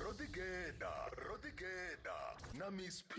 ro ḓi geḓa ro ḓi geḓa na miss p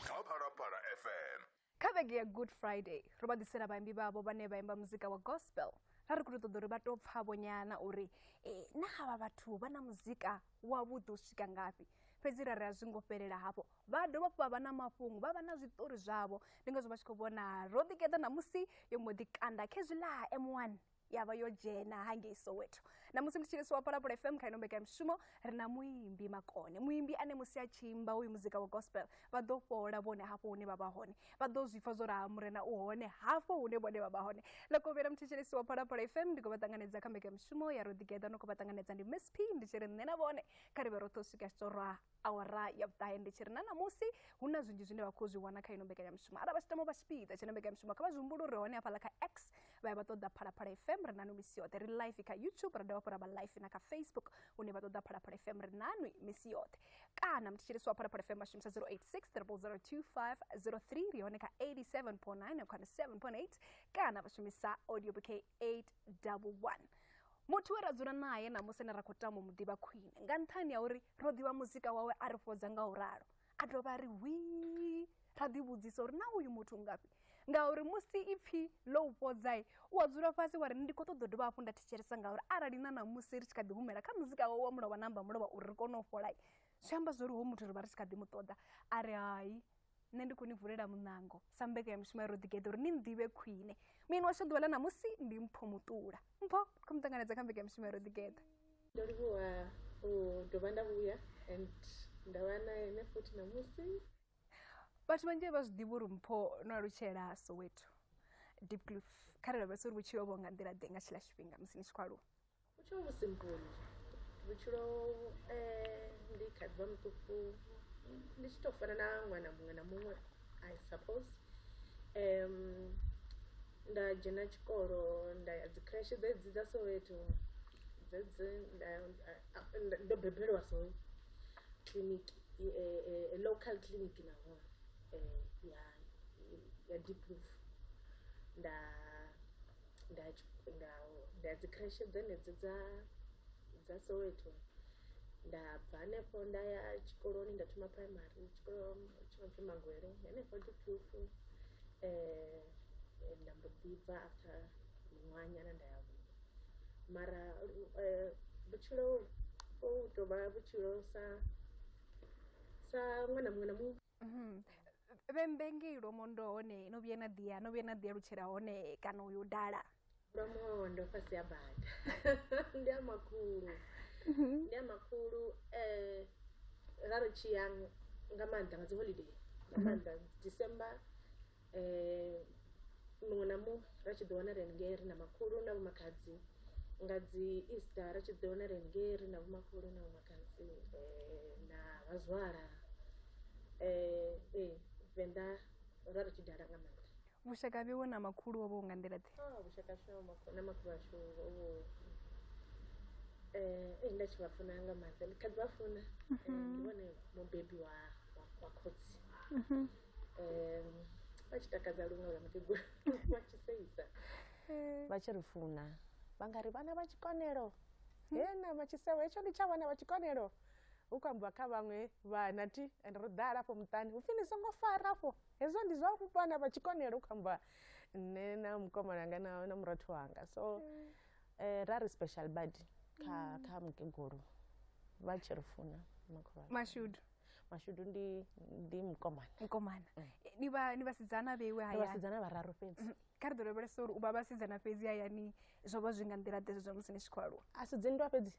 kha phalaphala fm kha vhege ya good friday ro vha ḓisela vhaimbi vhavho vhane vha imba muzika wa gospel ra ri khou ṱoḓa uri vha tou pfhavho nyana uri eh, na havha vhathu vha na muzika wavhuḓi u swika ngafhi fhedzi ra ri a zwi ngo fhelela hafho vha dovha hafhu vha vha na mafhungo vha vha na zwiṱori zwavho ndi ngazwo vha tshi khou vhona ro ḓikeḓa ṋamusi yo mbo ḓi kanda khezwiḽa m1 ya vha yo dzhena hangei soweto na musi ndi tshi lisiwa palapula fm kha ino mbekanyamushumo ri na muimbi makone muimbi ane musi a tshi imba uyu muzika wa gospel vha ḓo fhola vhone hafho hune vha vha hone vha ḓo zwi pfa zwo raha murena u hone hafho hune vhone vha vha hone ḽa kovhela muthetsheleisi wa palapula fm ndi khou vha ṱanganedza kha mbekanyamushumo ya roḓigeḓa no khou vha ṱanganedza ndi miss p ndi tshi ri nṋe na vhone kha ri vhe roṱhe u swika tshi tou rwa awara ya vhuṱahe ndi tshi ri na ṋamusi hu na zwinzhi zwine vha khou zwi wana kha ino mbekanyamushumo arali vha tshi tama u vha tshipiḓa tshine mbekanyamushumo kha vha zwi humbule uri hone hafhaḽa kha x vha ya vha ṱoḓa phalaphala fm ri nanu misi yoṱhe ri life kha youtube ra dovha hafhu ra vha life na kha facebook hune vha ṱoḓa phalaphala fm ri nanu misi yoṱhe kana mthetshelesi wa phalaphala fm vha shumisa 0860002503 ri hone kha 87.9 na khana 7.8 kana vha shumisa audio bouquet 811 muthu we ra dzula naye ṋamusi ne ra khou tama u mu ḓivha khwine nga nṱhani ha uri ro ḓivha muzika wawe a ri fhodza nga u ralo a dovha a ri hwii ra ḓivhudzisa uri na uyu muthu ngafhi ngauri musi ipfhi ḽo u fhodzae u a dzula fhasi wa ri ndi khou ṱoḓa u dovha hafhu nda thetshelesa ngauri arali na ṋamusi ri tshi kha ḓi humela kha muzika wawe wa mulovha namba mulovha uri ri kone u fholai zwi amba zwo ri ho muthu ri vha ri tshi kha ḓi mu ṱoḓa a ri hai nṋe ndi khou ni vulela muṋango sa mbekanyamushumo ya ro ḓigeḓa uri ni nḓivhe khwine muyeni washu ḓuvha ḽa ṋamusi ndi mpho muṱula mpho kho mu ṱanganedza kha mbekanyamushumo ya ro ḓigeḓa ndo livhuwa u dovha nda vhuya and nda vha na ene futhi ṋamusi vhathu vhanzhi vha zwi ḓivha uri mpho no alutshela soweto deep cliff kharali vha si uri vhutshilo vho nga nḓila ḓe nga tshila tshifhinga musi ni tshi khou aluwa vhutshilo vhu simple vhutshilo eh, ndi kha ḓivha muṱuku ndi tshi tou fana na ṅwana muṅwe na muṅwe i suppose um nda dzhena tshikolo nda ya dzi crash dzedzi dza soweto dzedzi ndo bebelwa so clinic e, e, e, local clinic naho ya ya deep roof nda nda nda nda dzi creche dzenedzi dza dza soweto nda bva hanefho nda ya tshikoloni nda thoma primary tshikolo tshino pfhi mangwele henefho diphufu um nda mbo ḓi bva after miṅwahanyana nda ya huṅwe mara um vhutshilo u tovha vhutshilo sa sa ṅwana muṅwe na muṅwe Mhm. vhembe ngei lwomondo hone no vhuya na ḓiya no vhuya na ḓiya lutshela hone kana uyo dala lwamondo fhasi ha bada ndi a makhulu ndi a makhulu um ra ri tshi ya nga maanḓa nga dzi holiday nga maanḓa december um muṅwe na muṅwe ra tshi ḓi wana ri haningei ri na makhulu na vhomakhadzi nga dzi easter ri tshi ḓi wana ri haningei ri na vhomakhulu na vhomakhadzi um na vhazwala um ee venḓa ra ri tshi dala nga maanḓa vhushaka ha vhewe na makhulu ho vho nga nḓila ḓe Oh, vhushaka hashu na makhu- na makhulu ashu ho vhu eh eh, nda tshi vha funa nga maanḓa ndi kha ḓi vha funa Eh, ndi vhone mubebi wa wa- wa khotsi um, vha tshi takadza luṅwe lwa mukegulu vha tshi seisa vha tshi ri funa vha nga ri vhana vha tshikonelo hena vha tshi sewa hetsho ndi tsha vhana vha tshikonelo hu khou ambiwa kha vhaṅwe vhana ti and ro ḓala afho muṱani hu pfi ni songo fara afho hezwo ndi zwa vhana vha tshikonelo hu khou ambiwa nṋe na mukomana wanga na, na murathu wanga so eh, ra ri special badi kha, kha mukegulu vha tshi ri funa makhulu washu. mashudu mashudu ndi ndi mukomana mukomana Eh, ni vha- ni vhasidzana vheiwe ndi hayani vhasidzana vhararu fhedzi kha ri ḓo lavhelesa uri u vha vhasidzana fhedzi hayani zwo vha zwi nga nḓila ḓe zwa musi ni tshi khou aluwa a si dzinndwa fhedzi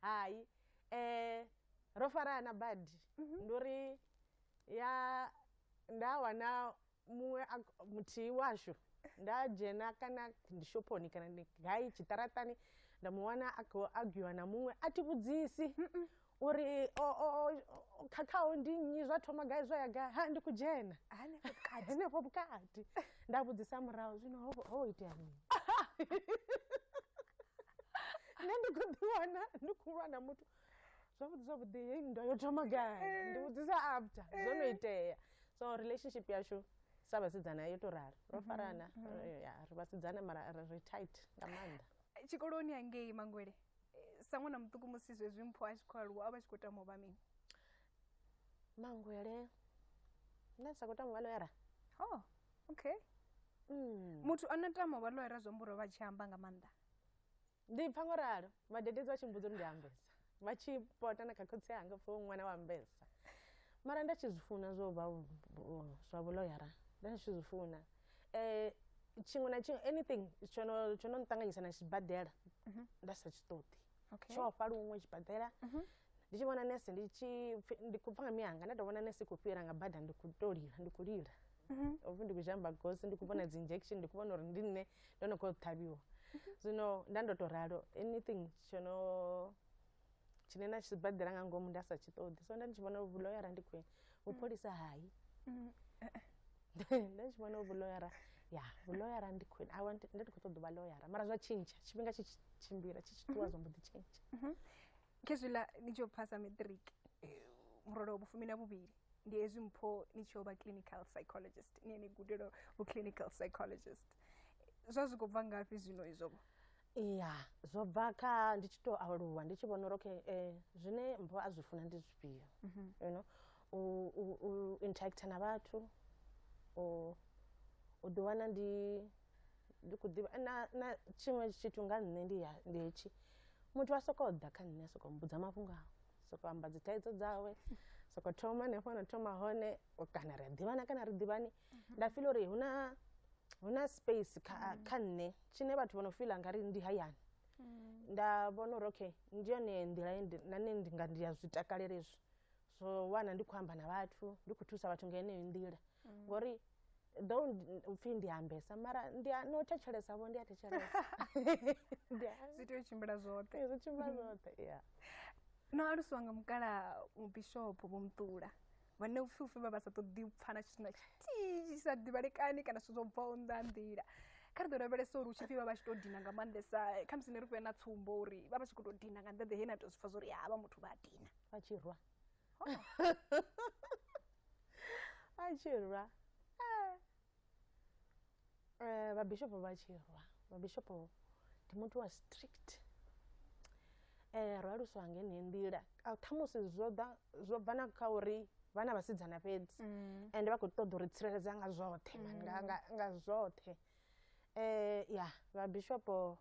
hai um ro farana badi ndi uri ya nda wana muṅwe a- muthihi washu nda dzhena kana ndi shophoni kana ndi gai tshiṱaratani nda mu wana a khou agiwa na muṅwe a thi vhudzisi uri o- o- o- o- khakhaho ndi nnyi zwa thoma gai zwa ya gai ha ndi khou dzhena hanefho vhukati henefho vhukati nda vhudzisa murahu zwino ho ho itea mini nṋe ndi khou ḓiwana ndi khou lwa na muthu zwavhuḓi zwavhuḓi heyi nndwa yo thoma gai eh. ndi vhudzisa after eh. zwo no itea so relationship yashu sa vhasidzana yo to rali ro mhm, farana mhm. eh, ya ri vhasidzana mara ri tight nga maanḓa tshikoloni hangei mangwele sa ṅwana muṱuku musi zwezwi mpho a tshi khou aluwa a vha tshi khou tama u vha mini mangwele nda ndi sa khou tama u vha loyara o oh, okay mm. muthu a no tama u vha loyara zwi amba uri vha tshi amba nga maanḓa Ndi pfa ngo ralo vhadededzi vha tshi mbudza uri ndi ambesa vha tshi pota na kha khotsi anga pfa ṅwana wa ambesa mara nda tshi zwi funa zwo vha zwa vhuloyara nda tshi zwi funa um tshiṅwe na tshiṅwe anything tsho no tsho no nṱanganyisa na tshibadela nda sa tshi ṱoḓi tsho ofha luṅwe tshibadela ndi tshi vhona nese ndi tshi pfi- ndi khou pfa nga miyanga nda tou vhona nese i khou fhira nga bada ndi khou tou lila ndi khou lila ovhi ndi khou zhamba gosi ndi khou vhona dzi injection ndi khou vhona uri ndi nṋe ndo no khou ṱhavhiwa zwino nda ndo tou ralo anything tsho no tshine na tshibadela nga ngomu nda sa tshi ṱoḓi so nda ndi tshi vhona vhuloyara ndi khwine vhupholisa hai nda tshi vhona vhuloyara ya vhuloyara ndi khwine I want- nda ndi khou ṱoḓa u vha loyara mara zwa tshintsha tshifhinga tshi tshi tshimbila tshi tshi ṱuwa zwa mbo ḓi tshintsha khezwiḽa ni tshi yo phasa matric eh, murole wa vhufumi na vhuvhili ndi hezwi mpho ni tshi yo vha clinical psychologist ni ni gudelo vhu clinical psychologist zwa zwi khou bva ngafhi zwino izwo iya zwo bva kha ndi tshi to aluwa ndi tshi vhona uri okay eh, zwine mpho a zwi funa ndi zwifhio mhm. you know u, u, u interacta na vhathu u, u ḓiwana ndi ndi kho ḓivha na na tshiṅwe tshithu nga nṋe ndi ya ndi hetshi muthu a sokou ḓa kha nṋe a sokou mbudza mafhungo a sokou amba dzi thaidzo dzawe sokou thoma hanefho na thoma hone kana ri a ḓivhana kana ri ḓivhani mhm. nda fila uri hu na hu na space kha mhm. kha nṋe tshine vhathu vho no fila nga ri ndi hayani mhm. nda vhona uri okay ndi yone nḓila na nṋe ndi nga ndi ya zwi takalela izwi so wana ndi khou amba na vhathu ndi khou thusa vhathu nga heneyo nḓila mm. ngori do upfhi ndi ambesa mara ndi no thetshelesa vho ndi a thetshelesa zwi tea u tshimbila zwoṱhe zwi tshimbila zwoṱhe ya no alusiwa nga mukala mubishopo vho muṱula vhane upfhi upfhi vha vha sa ṱoḓi u pfana tshithu na tshithihi tshi sa ḓivhalekani kana zwithu zwo bvaho nnḓa nḓila kha ri ḓo lavhelesa uri hu tshi pfhi vha vha tshi tou dina nga maanḓesa khamusi ni ri fhe na tsumbo uri vha vha tshi khou tou dina nga nḓeḓe he na tou zwi pfa zwa uri ha vha muthu vha a dina a tshi rwa a tshi rwa Eh. Eh, vhabishopo vha tshi rwa vhabishopo ndi muthu wa strict eh ro aluswa nga ine nḓila A- khamusi zwo ḓa zwo bva na kha uri vhana vhasidzana fhedzi ende vha khou ṱoḓa uri tsireledza nga zwoṱhe man, nga, nga, nga zwoṱhe eh ya vhabishopo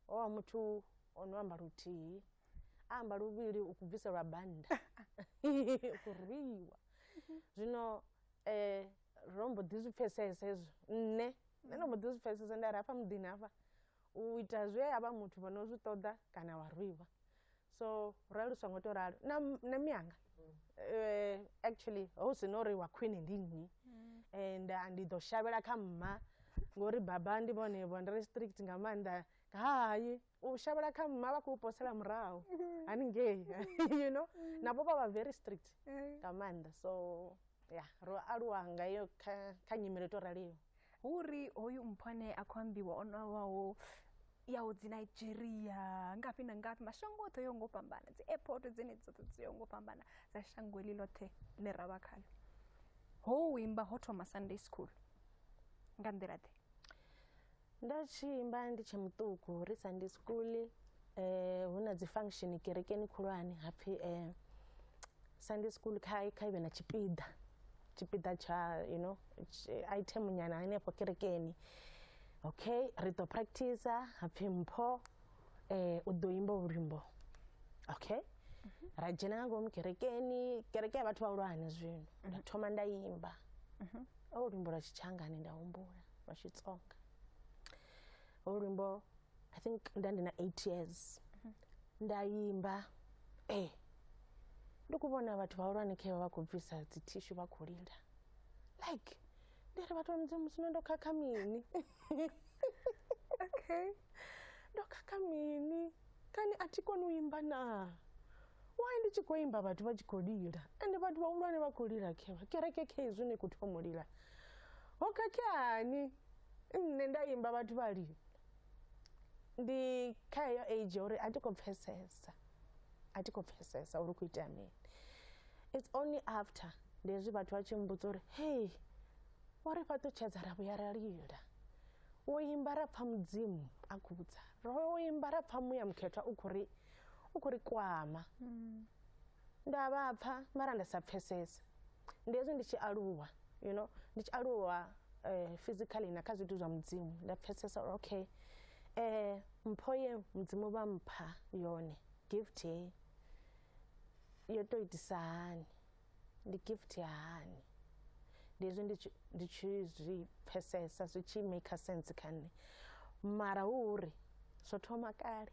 owa muthu o no amba luthihi a amba luvhili u bviselwa bannda u rwiwa zwino um ro mbo ḓi zwi pfesesa hezwo nṋe nṋe ndo mbo ḓi zwi pfesesa nda ri hafha muḓini hafha u ita zwe a vha muthu vha no zwi ṱoḓa kana wa rwiwa so rali lu songo to ralo na, na mianga eh, actually hu si no uri wa khwine ndi nnyi and ah, ndi ḓo shavhela kha mma ngori baba ndi vhone vho ndi ri strict nga maanḓa hai u shavhela kha mma vha khou posela murahu haningei you know navho vha vha very strict nga maanḓa so ya ro aluwa nga iyo kha, kha nyimele to raliho hu uri hoyu mpho ane a khou ambiwa o nwawaho yaho dzi nigeria ngafhi na ngafhi mashango oṱhe yo ngo fhambana dzi airport dzine dzoṱhe dzi yo ngo fhambana dza shango heḽi ḽoṱhe ḽe ra vha khaḽo ho imba ho thoma sunday school nga nḓila ḓe nda tshi imba ndi tshe muṱuku ri sunday school um hu na dzi function kerekeni khulwane ha pfhi um sunday school kha kha ive na tshipiḓa tshipiḓa tsha you know item nyana henefho kerekeni okay ri ḓo practice hapfhi mpho eh u ḓo imba luimbo okay ra dzhena nga ngomu kerekeni kereke ya vhathu vhahulwane zwino nda thoma nda imba o luimbo lwa tshitshangani nda humbula lwa xitsonga o luimbo i think nda ndi na eight years nda imba eh ndi ku vhona vhathu vhahulwane khe vha vha khou bvisa dzi thishu vha khou lila like ndi ri vhathu vha musi no ndo khakha mini okay ndo khakha mini kani a thi koni u imba na why ndi tshi khou imba vhathu vha tshi khou lila ende vhathu vhahulwane vha khou lila khevha kereke khezwi ni khou thoma u lila ho khakheani nṋe nda imba vhathu vha lila ndi kha heyo age uri a thi khou pfesesa a thi khou pfesesa uri u khou itea mini it's only after ndi hezwi vhathu vha tshi mbudza uri hei wa ri fhaṱutshedza ra vhuya ra lila wo imba ra pfha mudzimu a khou vhudza ro imba ra pfha muya mukhethwa u khou ri u khou ri kwama mm. nda vha pfa mara nda sa pfesese ndi hezwi ndi tshi aluwa you know ndi tshi aluwa eh, physically na kha zwithu zwa mudzimu nda pfesesa uri okay eh mpho ye mudzimu vha mpha yone gift ye yo to itisa hani ndi gift ya hani ndi hezwi ndi tshi- ndi tshi zwi pfesesa zwi tshi maker sense kha nṋe mara hu uri zwo thoma kale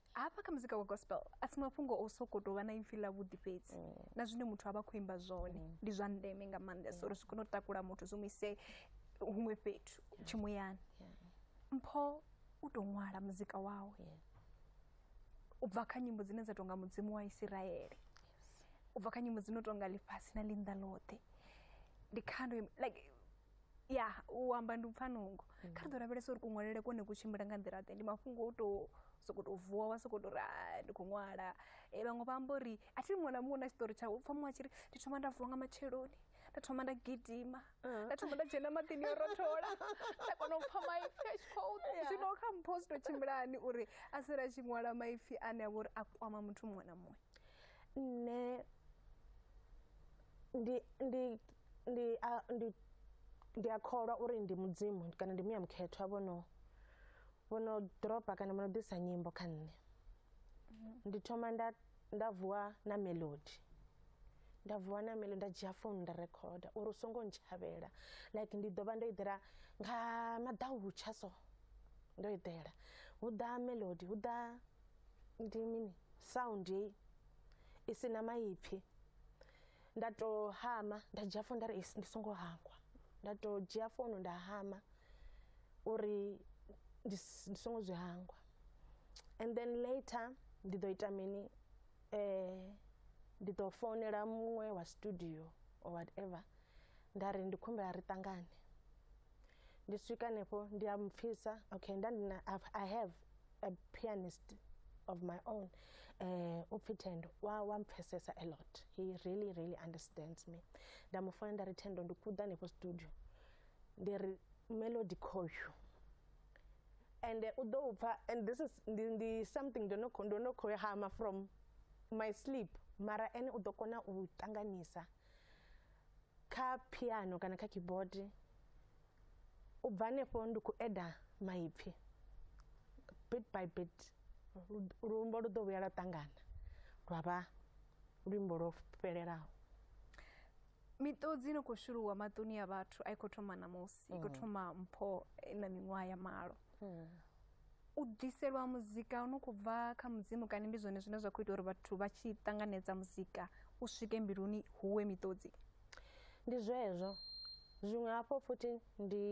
hafha kha muzika wa gospel a si mafhungo o soko tou vha na ipfhi ḽa vhuḓi fhedzi mm. na zwine muthu a vha khou imba zwone mm. ndi zwa ndeme nga maanḓesa uri zwi kone u takula muthu zwi mu ise huṅwe fhethu tshimuyani mpho u tou ṅwala muzika wawe u bva kha nyimbo dzine dza tonga mudzimu wa isiraele u bva kha nyimbo dzi no tonga ḽifhasi na ḽinnḓa ḽoṱhe ndi khando like ya u amba ndi upfa nungo mm. kha ri ḓo lavhelesa uri kuṅwalele kone ku tshimbila nga nḓila ḓe ndi mafhungo o tou soko tou vuwa wa soko tou ri ah, ndi khou ṅwala e vhaṅwe vha amba uri a thi muṅwe na muṅwe na tshiṱori tshawe pfa muṅwe a tshi ri ndi thoma nda vuwa nga matsheloni nda thoma nda gidima ah. nda thoma nda dzhena maḓini yo rothola nda kona u pfa maipfi a tshi khou zwino kha mpho zwi tou tshimbilani uri a si ri a tshi ṅwala maipfi ane a vha uri a kwama muthu muṅwe na muṅwe nṋe ndi ndi ndi a ndi ndi a kholwa uri ndi mudzimu kana ndi muya mukhethwa vhono vhono dropa kana vhono ḓisa nyimbo kha nṋe ndi thoma nda nda vuwa na melody nda vuwa na melody nda dzhia founu nda rekhoda uri u songo ntshavhela like ndi ḓo vha ndo eḓela nga maḓautsha so ndo eḓela hu ḓa melody hu ḓa ndi mini sound heyi i si na maipfhi nda to hama nda dzhia founu nda ri ndi songo hangwa nda to dzhia founu nda hama uri ndi songo zwi hangwa and then later ndi ḓo ita mini ndi ḓo founela muṅwe wa studio or whatever nda ri ndi kho humbela ri ṱangane. ndi swika hanefho ndi a mpfisa okay nda ndi na I've- i have a pianist of my own eh u pfi thendo wa wa mpfesesa a lot he really really understands me nda mu fona nda ri thendo ndi kuḓa hanefho studio ndi ri melody khoyu and eh, u ḓo u pfa and this is ndi, ndi something ndo no kho- ndo no khou hama from my sleep mara ene u ḓo kona u ṱanganyisa kha phiano kana kha keyboard u bva hanefho ndi khou eda maipfhi bit by bit luimbo lu ḓo vhuya lwa ṱangana lwa vha luimbo lwo fhelelaho miṱodzi no khou shuluwa maṱoni a vhathu a i khou thoma ṋamusi i khou hmm. thoma mpho na miṅwaha ya malo hmm. u ḓiselwa muzika u no khou bva kha mudzimu kani ndi zwone zwine zwa khou ita uri vhathu vha tshi ṱanganedza muzika u swike mbiluni huwe miṱodzi ndi zwezwo zwiṅwe hafho futhi ndi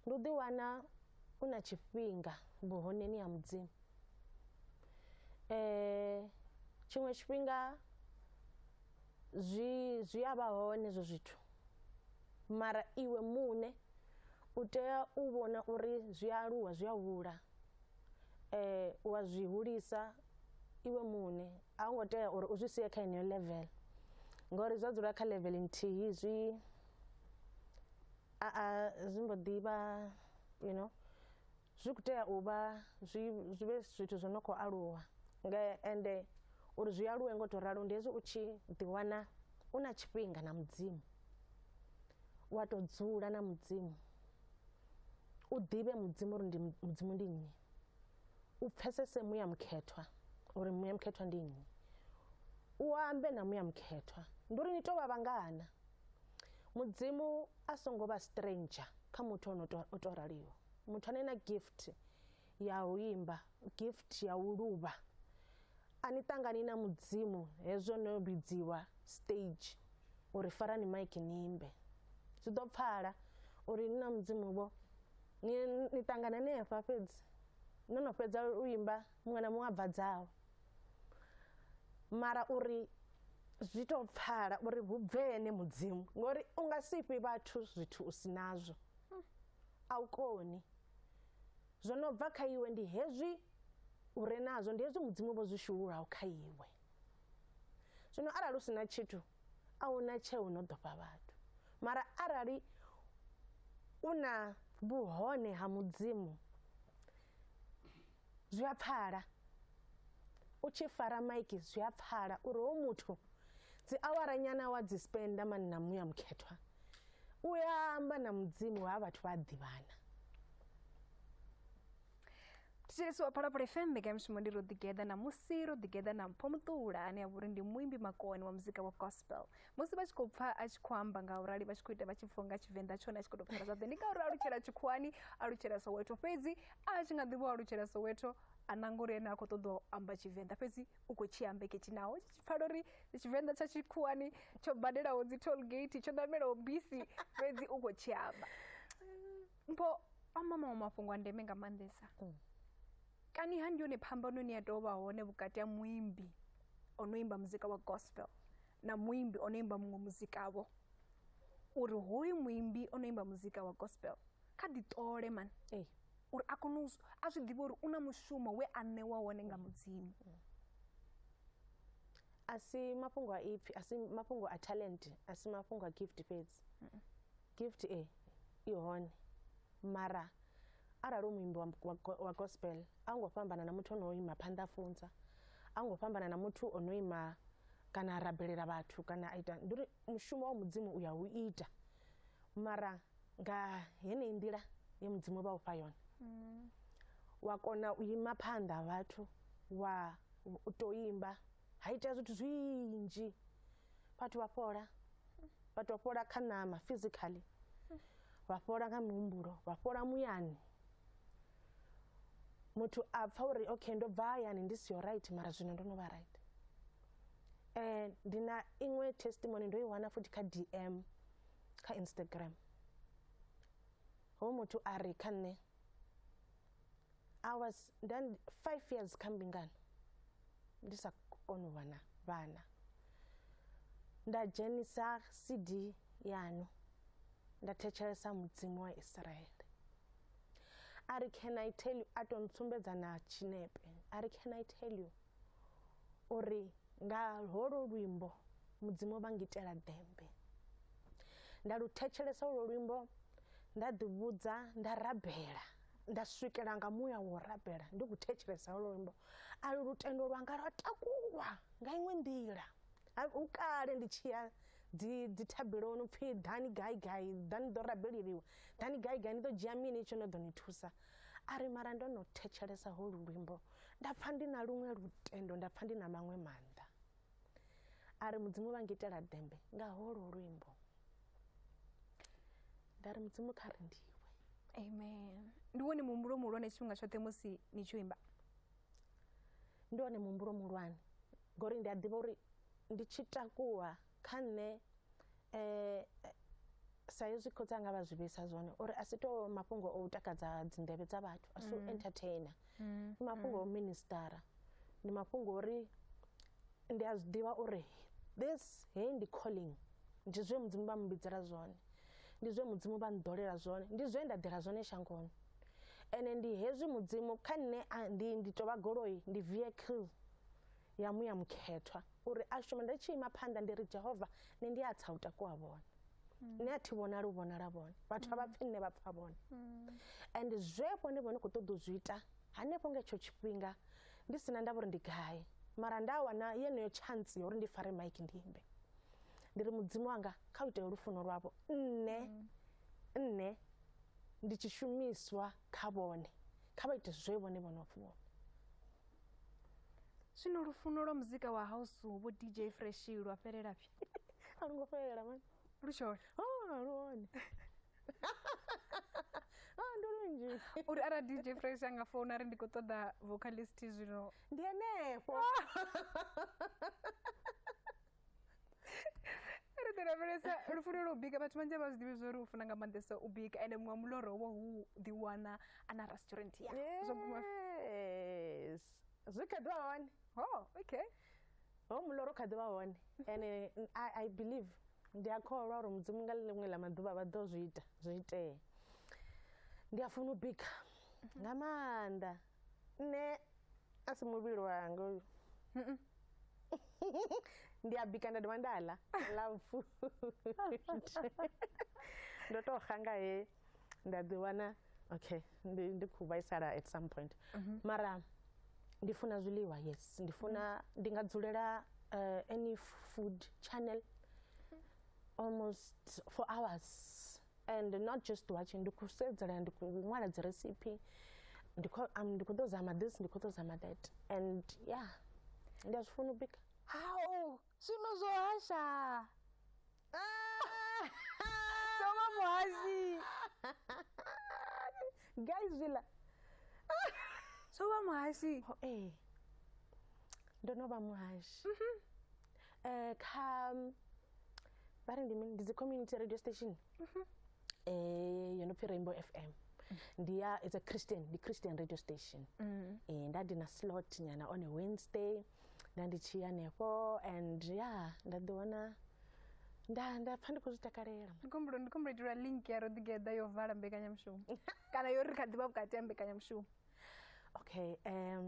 ndi u ḓiwana u na tshifhinga vhuhoneni ha mudzimu um tshiṅwe tshifhinga zwi zwi a vha hone hezwo zwithu Mara iwe muṋe u tea u vhona uri zwi a aluwa zwi a hula wa zwi hulisa iwe muṋe a hu ngo tea uri u zwi sie kha yeneyo level ngori zwa dzula kha level nthihi zwi a a zwi mbo ḓi vha you know. Zwi khou tea u vha zwi zwi vhe zwithu zwo no khou aluwa nga ende uri zwi aluwe ngo to ralo ndi hezwi u tshi ḓi wana u na tshifhinga na mudzimu wa to dzula na mudzimu u ḓivhe mudzimu uri ndi mudzimu ndi nnyi u pfesese muya mukhethwa uri muya mukhethwa ndi nnyi u ambe na muya mukhethwa ndi uri ni to vha vhangana mudzimu a songo vha stranger kha muthu ono to raliho muthu ane na gift ya u imba gift ya u luvha a ni ṱangani na mudzimu hezwo no vhidziwa stage uri farani maiki ni imbe zwi ḓo pfala uri ni na mudzimu vho ni ni ṱangana nefha fhedzi no no fhedza u imba muṅwe na muṅwe a bva dzawe mara uri zwi tou pfala uri hu bve ene mudzimu ngori u nga si fhi vhathu zwithu u si nazwo a u koni. Zwo no bva kha iwe ndi hezwi u re nazwo, ndi hezwi Mudzimu vho zwi shululaho kha iwe. Zwino arali u si na tshithu, a hu na tsheo no ḓo fha vhathu. Mara arali u na vhuhone ha Mudzimu, Zwi a pfala. U tshi fara maiki zwi a pfala uri ho muthu dzi awara nyana wa dzi spenda mani na muya mukhethwa u ya amba na mudzimu ha vhathu vha ḓivhana thetshelesi wa phalaphala fm mbekanyamushumo ndi ro ḓigeḓa ṋamusi ro ḓigeḓa na mpho muṱula ane a vhori ndi muimbi makoni wa muzika wa gospel musi vha tshi khou pfa a tshi khou amba nga urali vha tshi khou ita vha tshi pfwa nga tshivenḓa tshone a tshi khou tou pfala zwaḓe ndi ngauri alutshela tshikhuwani alutshela soweto fhedzi a tshi nga ḓivha o alutshela soweto a nanga uri ene a khou ṱoḓa u amba tshivenḓa fhedzi u khou tshi amba ketshi naho tshi tshi pfala uri tshivenḓa tsha tshikhuwani tsho badelaho dzi toll gate tsho ṋamelaho bisi fhedzi u khou tshi amba mpho amba maṅwe mafhungo a ndeme nga maanḓesa mm. kani ha ndi yone phambano ni ya tou vha hone vhukati ha muimbi o no imba muzika wa gospel na muimbi o no imba muṅwe muzika vho uri hoyu muimbi o no imba muzika wa gospel kha ḓi ṱole mani ee uri a kone a zwi ḓivhe uri u na mushumo we a ṋewa wone nga mudzimu a si mafhungo a ipfhi a si mafhungo a talent a si mafhungo a gift fhedzi Gift A i hone mara arali u muimbi wa, wa, wa gospel a u ngo fhambana na muthu o no ima phanḓa a funza a u ngo fhambana na muthu o no ima kana a rabelela vhathu kana a ita ndi uri mushumo wa mudzimu u ya u ita mara nga heneyi nḓila ye mudzimu vha u fha yone wa kona u ima phanḓa ha vhathu wa u tou imba ha itea zwithu zwinzhi vhathu vha fhola vhathu vha fhola kha ṋama physically vha fhola nga mihumbulo vha fhola muyani muthu a pfa uri okay ndo bva hayani ndi siho right mara zwino ndo no vha right um ndi na iṅwe testimony ndo i wana futhi kha d m kha instagram ho muthu a ri kha nṋe I was then five years kambingano ndisakonovana vana ndajenisa cd yanu ndathetshelesa mudzimu wa israeli a ri can i tell you a to ntsumbedza na tshinepe a ri can i tell you uri nga holo luimbo mudzimu vha ngitela dembe nda lu thetshelesa holo luimbo nda ḓivhudza nda rabela nda swikela nga muya wo rabela ndi ku thetshelesa lwo luimbo a lu lutendo lwanga lwa takulwa nga iṅwe nḓila u kale ndi tshi ya dzi dzi thabeloni pfhi dani gai gai dani ḓo rabeleliwa dani gai gai ni ḓo dzhia mini tsho no ḓo ni thusa a ri mara ndo no thetshelesa ho lu luimbo nda pfha ndi na luṅwe lutendo nda pfha ndi na maṅwe maanḓa a ri mudzimu vha ngitela dembe nga ho lu luimbo nda ri mudzimu kha ri ndiwe amen ndi wone muhumbulo muhulwane tshifhinga tshoṱhe musi ni tshi imba ndi wone muhumbulo muhulwane ngori ndi a ḓivha uri ndi tshi takuwa kha nṋe um sa hezwi khotsi anga vha zwi vhesa zwone uri a si to mafhungo o u takadza dzindevhe dza vhathu a si u mm. entertainer mm. ndi mafhungo o mm. ministara ndi mafhungo ori ndi a zwi ḓivha uri this hei ndi calling ndi zwe mudzimu vha mbidzela zwone ndi zwe mudzimu vha nḓolela zwone ndi zwe nda ḓela zwone shangoni ene ndi hezwi mudzimu kha nṋe ndi ndi tovha goloi ndi vehicle ya muya mukhethwa uri a shume nda tshi ima phanḓa ndi ri jehova nṋe ndi a tsa u takuwa vhone mm. nṋe a thi vhonali u vhonala vhone vhathu a vha mm. pfi nṋe vha pfa vhone mm. and zwe vhone vhone khou ṱoḓa u zwi ita Hanefho nga hetsho tshifhinga ndi sina ndavha uri ndi gai mara nda wana yeneyo chance ya uri ndi fare mike ndi imbe ndi ri mudzimu wanga kha u itele lufuno lwavho nne mm. nne ndi tshi shumiswa kha vhone kha vha ite zwe vhone vho no funa zwino lufuno lwa muzika wa house vho dj fresh lwa fhelela phi a lu ngo fhelela mani lu tshone oh lu hone ah, ndo lunzhi uri ara dj fresh anga founa ri ndi khou ṱoḓa vocalist zwino ndi henefho ri ḓi lavhelesa lufuno lwa u bika vhathu vhanzhi a vha zwi ḓivhi zwo ri u funa nga maanḓesa u bika ende muṅwe muloro wo hu ḓiwana a na restaurant ya zwo guma zwi kha ḓi wa hone ho okay ho muloro kha ḓivha hone and I, I believe ndi a kholwa uri mudzimu nga ḽiṅwe ḽa maḓuvha vha ḓo zwi ita zwi itea ndi a funa u bika nga maanḓa nṋe a si muvhili wanga uyu ndi a bika nda dovha nda ḽa love food ndo tou xa nga he nda ḓi wana okay ndi ndi khou vhaisala at some point mhm. mara ndi funa zwiḽiwa yes ndi funa mhm. ndi nga dzulela eh, any food channel mhm. almost for hours and not just watching ndi khou sedzela ndi khou ṅwala dzi recipe ndi khou um, ndi khou ḓo zama this ndi khou ḓo zama that and yeah ndi a zwi funa u bika hao zwino zwo hasha Soma muhazi. Guys villa. Soma muhazi. Ho eh. Ndo no vha muhashi. Mhm. Eh kha vha ri ndi mini ndi dzi community radio station. Mhm. Eh yo no pfi Rainbow FM. Ndi ya it's a Christian, ndi Christian radio station. Mhm. Eh nda ndi na slot nyana on a Wednesday. nda ndi tshi hanefho and ya nda ḓi wana nda nda pfha ndi khou zwi takalela ndi khombulo ndi khombulo itelwa link ya ro ḓigeḓa yo vala mbekanyamushumo kana yo ri kha ḓivha vhukati ha mbekanyamushumo okay um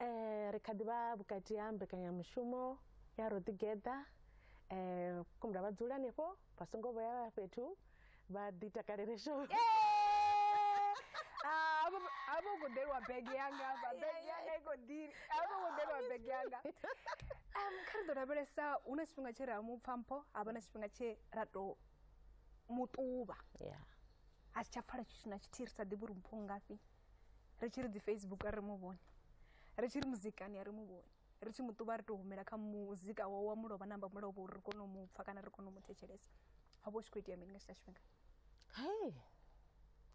eh ri kha ḓivha vhukati ha mbekanyamushumo ya ro ḓigeḓa eh khombulo vha dzula hanefho vha songo vhuya fhethu vha ḓi takalele show Ah, avo avo khou ḓelwa bege yanga hafha bege yanga i khou ḓi avo khou ḓelwa bege yanga Em, kha ri ḓo lavhelesa hu na tshifhinga tshe ra mu pfa mpho ha vha na tshifhinga tshe ra tou mu ṱuvha ya a si tsha pfala tshithu na tshithihi ri sa ḓivhi uri mpho ngafhi ri tshi ri dzi facebook a ri mu vhone ri tshi ri muzikani a ri mu vhone ri tshi mu ṱuvha ri tou humela kha muzika wawe wa mulovha na amba mulovha uri ri kone u mu pfha kana ri kone u mu thetshelesa ha vha u tshi khou itea mini nga tshila tshifhinga hei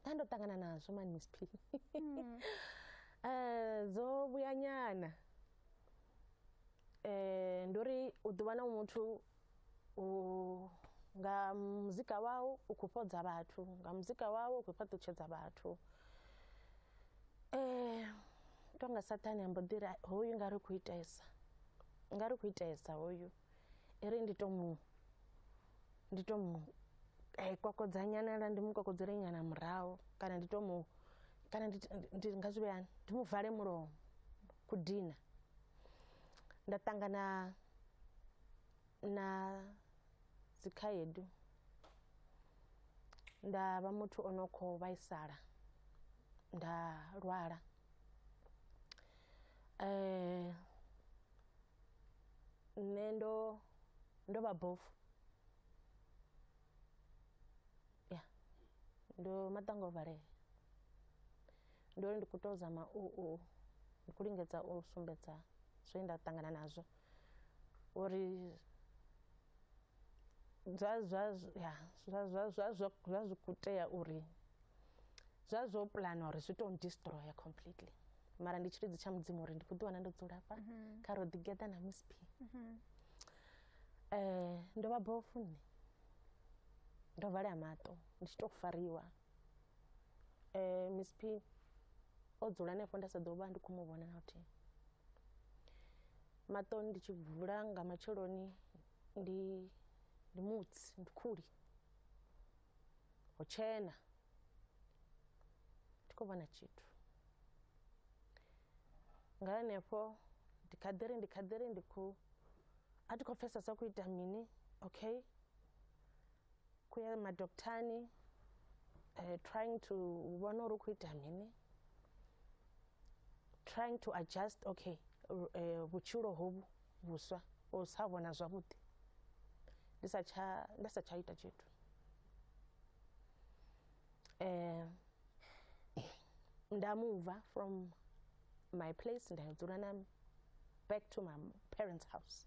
nda ndo ṱangana nazwo mani misp um eh, dzo vhuyanyana um eh, ndi uri u ḓuvha na muthu u nga muzika wau u khou fhodza vhathu nga muzika wau u khou fhaṱutshedza vhathu tonga saṱhane a mbo ḓi ri hoyu nga ri khou itesa nga ri khou itesa hoyu i ri ndi to mu ndi to mu kokodza nyana lwa ndi mu kokodzele nyana murahu kana ndi to mu kana ndi nga zwi vhea hani ndi mu vale mulomo ku dina. nda ṱangana na dzikhaedu nda vha muthu o no khou vhaisala nda lwala nṋe ndo ndo vha bofu ya ndo maṱanga o valea Ndi uri ndi kho to zama u u ndi kho lingedza u sumbedza zwe nda ṱangana nazwo uri zwa zwa ya zwa zwa zwa zwa zwa zwi kho tea uri zwa zwo puḽana uri zwi to destroyer completely mara ndi tshilidzi tsha mudzimu uri ndi kho ḓi wana ndo dzula hafha kha ro ḓi geḓa na miss p ndo vha bofu nṋe ndo valea maṱo ndi tshi to fariwa Miss P o dzula henefho nda sa ḓo vha ndi khou mu vhona na luthihi. Maṱo ndi tshi vula nga matsheloni ndi ndi mutsi, ndi khuli, ho tshena thi khou vhona tshithu. Nga henefho ndi kha ḓi ri ndi kha ḓi ri ndi khou, a thi khou pfhesesa zwa khou ita mini, okay. kuya madoktani uh, trying to vhona uri u khou ita mini trying to adjust okay uh, vhutshilo hovhu vhuswa u sa vhona zwavhuḓi ndi sa tsha nda sa tsha ita tshithu eh nda muva from my place nda dzula na back to my parents house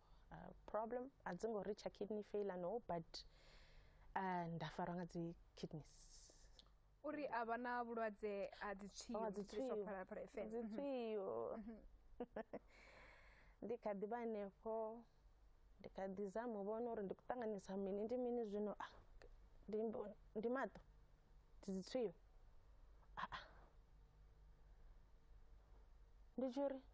uh, problem a dzi ngo reacha kidney failure no but uh, nda farwa nga dzi kidneys uri a vha na vhulwadze ha dzitswiyoditswiyo mhm. ndi kha ḓi vha henefho ndi kha ḓi zama u vhona uri ndi khou ṱanganisa mini ndi mini zwino ah, ndi maṱo ndi dzitswiyo ah, ah. ndi tshi uri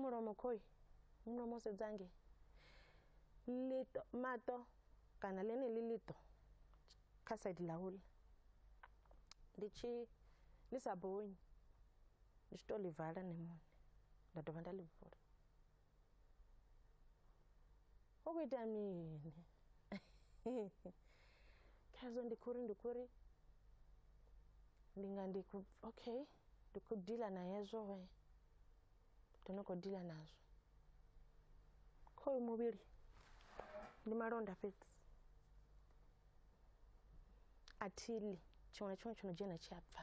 mulomo khoi mulomo sedzange lito mato kana lene li lito kha side la hula ndi tshi ḽi sa bonyi ndi tshi to ḽi vala nṋe muṋe nda dovha nda ḽi vula. u khou ita mini khazwo ndi khou ri ndi khou ri ndi nga ndi khou okay ndi khou dila na hezwo we ndo no khou dila nazwo khoyu muvhili ndi malonda fhedzi a thili tshiṅwe na tshiṅwe tsho no dzhena tshi a bva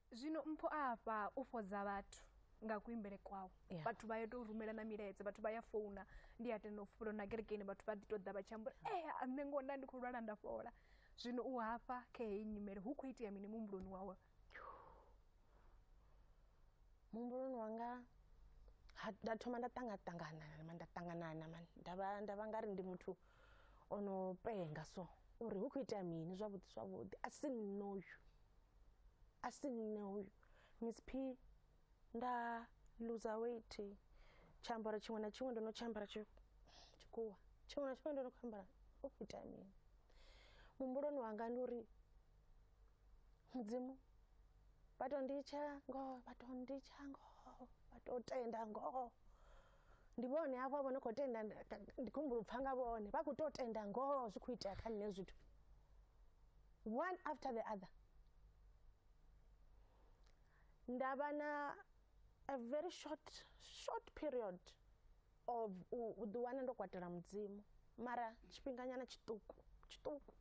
zwino mpho a afha u fhodza vhathu nga kuimbele kwawe yeah. vhathu vha ya tou rumela na milaedza vhathu vha ya founa ndi a tenda u fhula na kerekeni vhathu vha ḓi tou ḓa vha tshi ambula e eh, nṋe ngo nda ndi khou lwala nda fhola zwino u hafha kha heyi nyimele hu khou itea mini muhumbuloni wawe muhumbuloni wanga nda thoma nda ṱangaṱangana ma nda ṱanganana ma nda vha nga ri ndi muthu o no penga so uri hu khou itea mini zwavhuḓi zwavhuḓi a si nṋe uyu a si nṋe uyu miss p nda luza weight tshiambaro tshiṅwe na tshiṅwe ndo no tshiambara tshikhuwa tshiṅwe na tshiṅwe ndo no khou ambara hu khou itea mini muhumbuloni wanga ndi uri mudzimu vha to nditsha ngoho vha to nditsha ngoho vha to tenda ngoho ndi vhone hafho vho no khou tenda ndi- ka- ndi khou humbula u pfa nga vhone vha khou tou tenda ngoho zwi khou itea kha nṋe zwithu one after the other nda vha na a very short short period of u u ḓi wana ndo kwatela mudzimu mara tshifhinganyana tshiṱuku tshiṱuku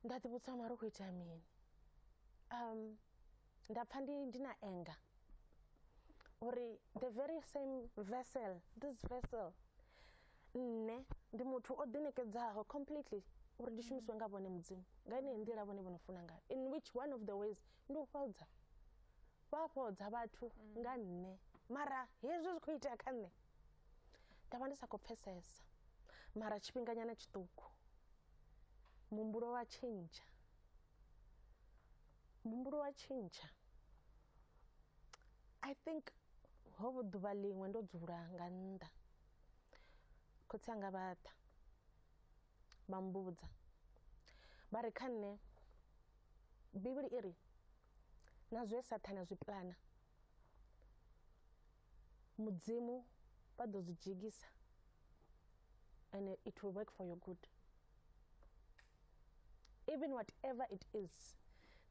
nda ḓivhudza mara u khou itea mini um, nda pfa ndi ndi na anger uri the very same vessel this vessel nne ndi muthu o ḓinekedzaho completely uri ndi shumiswe nga vhone mudzimu nga ineyi nḓila vhone vho no funa ngayo in which one of the ways ndi u fhodza vha fhodza vhathu nga nne mara hezwi zwi khou itea kha nṋe nda vha ndi sa khou pfesesa mara tshifhinganyana tshiṱuku muhumbulo wa tshintsha muhumbulo wa tshintsha i think ho vho ḓuvha ḽiṅwe ndo dzula nga nnḓa khotsi anga vha ḓa vha mbudza vha ri kha nṋe bivhili i ri na zwe sathane a zwi pulana Mudzimu vha ḓo zwi dzhigisa and it will work for your good even whatever it is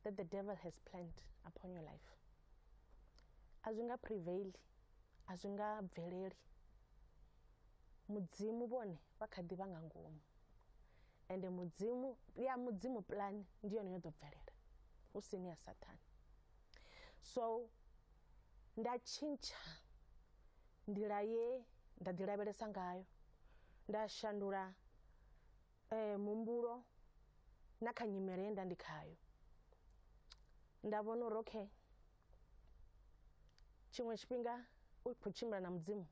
that the devil has planned upon your life a zwi nga prevail a zwi nga bveleli mudzimu vhone vha kha ḓi vha nga ngomu ende mudzimu ya mudzimu plan ndi yone yo ḓo bvelela hu si ni ya sathane so nda tshintsha nḓila ye nda ḓi lavhelesa ngayo nda shandula eh, muhumbulo na kha nyimele ye nda ndi khayo nda vhona uri okay tshiṅwe tshifhinga u khou tshimbila na mudzimu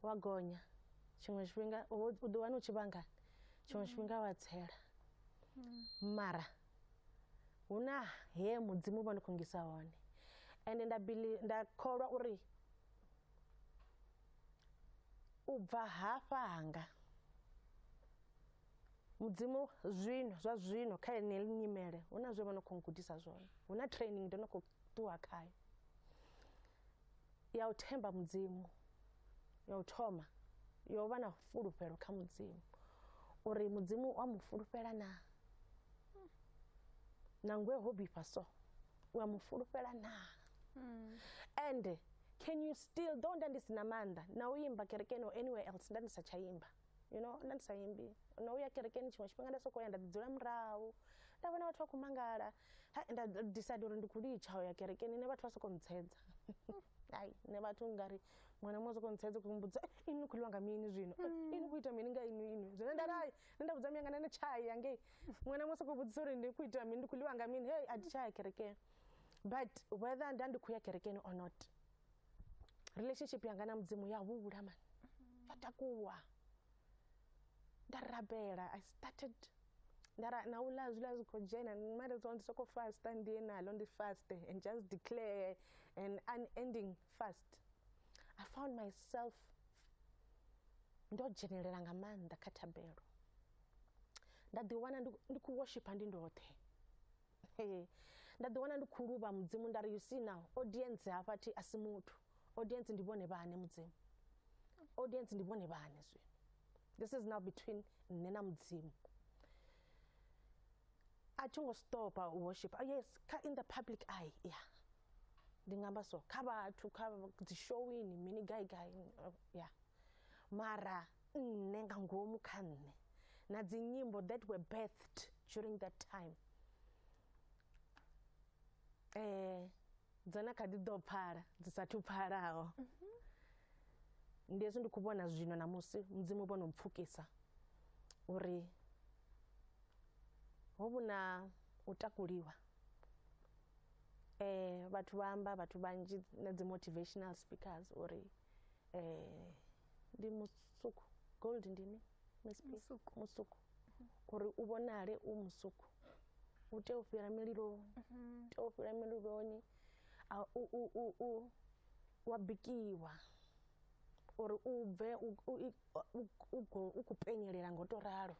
wa gonya tshiṅwe tshifhinga u ḓiwana u tshi vhangani tshiṅwe tshifhinga wa tsela mara hu na he mudzimu vha ndi khou ngisa hone ende nda bili nda kholwa uri u bva hafha hanga mudzimu zwino zwa zwino kha ene nyimele hu na zwe vha no khou gudisa zwone hu na training ndo no khou ṱuwa khayo ya u themba mudzimu ya u thoma yo vha na fulufhelo kha mudzimu uri mudzimu wa mu fulufhela na nangwe ho bifha so u a mu fulufhela na hmm. ende can you still though nda ndi si na maanḓa na u imba kerekeni or anywhere else nda ndi sa tsha imba you know nda ndi sa imbi no uya kerekeni tshiṅwe tshifhinga nda sokou ya nda ḓi dzula murahu nda vhona vhathu vha khou mangala nda decide uri ndi khou litsha u ya kerekeni nṋe vhathu vha sokou ntshedza ai nṋe vhathu ngari muṅwe na muṅwe sokou ntshedza khou mbudza eh, ini ni khou ḽiwa nga mini zwino eh, mm. ini khou ita mini nga inwi inwi zwine nda rai nṋe nda vhudza muyanga nṋe tshaya yangei muṅwe na muṅwe sokou vhudzisa uri ndi khou ita mini ndi khou ḽiwa nga mini hei a thi tshaya kerekeni but whether nda ndi khou ya kerekeni or not relationship yanga na mudzimu ya hula mani ya takuwa nda rabela i started ndara na ula zwiḽa zwi khou dzhena mara zwa ndi sokou fasta ndiye nalo ndi faste and just declare an unending fast i found myself ndo dzhenelela nga maanḓa kha thabelo nda ḓiwana ndi khou worshipa ndi ndoṱhe nda ḓi wana ndi khou luvha mudzimu nda ri you see now audience hafha thi a si muthu audience ndi vhone vhane mudzimu audience ndi vhone vhane zwino this is now between nṋe na mudzimu a thi ngo stopa u worship ah, yes kha in the public eye ya ndi nga amba so kha vhathu kha dzishowini mini gai gai ya mara nṋe nga ngomu kha nṋe na dzinyimbo that were birthed during that time eh dzo na kha ḓi ḓo pfala dzi sathu pfalaho ndi hezwi ndi khou vhona zwino na musi mudzimu vho no mpfukisa uri ho vhu na u takuliwa eh vhathu vha amba vhathu vhanzhi na dzi motivational speakers uri eh ndi musuku gold ndi mi msp musuku, musuku. Mm -hmm. uri u vhonale u musuku u tea u fhira mililoni mm -hmm. tea u fhira mililoni wa bikiwa uri u bve u khou penyelela ngo to ralo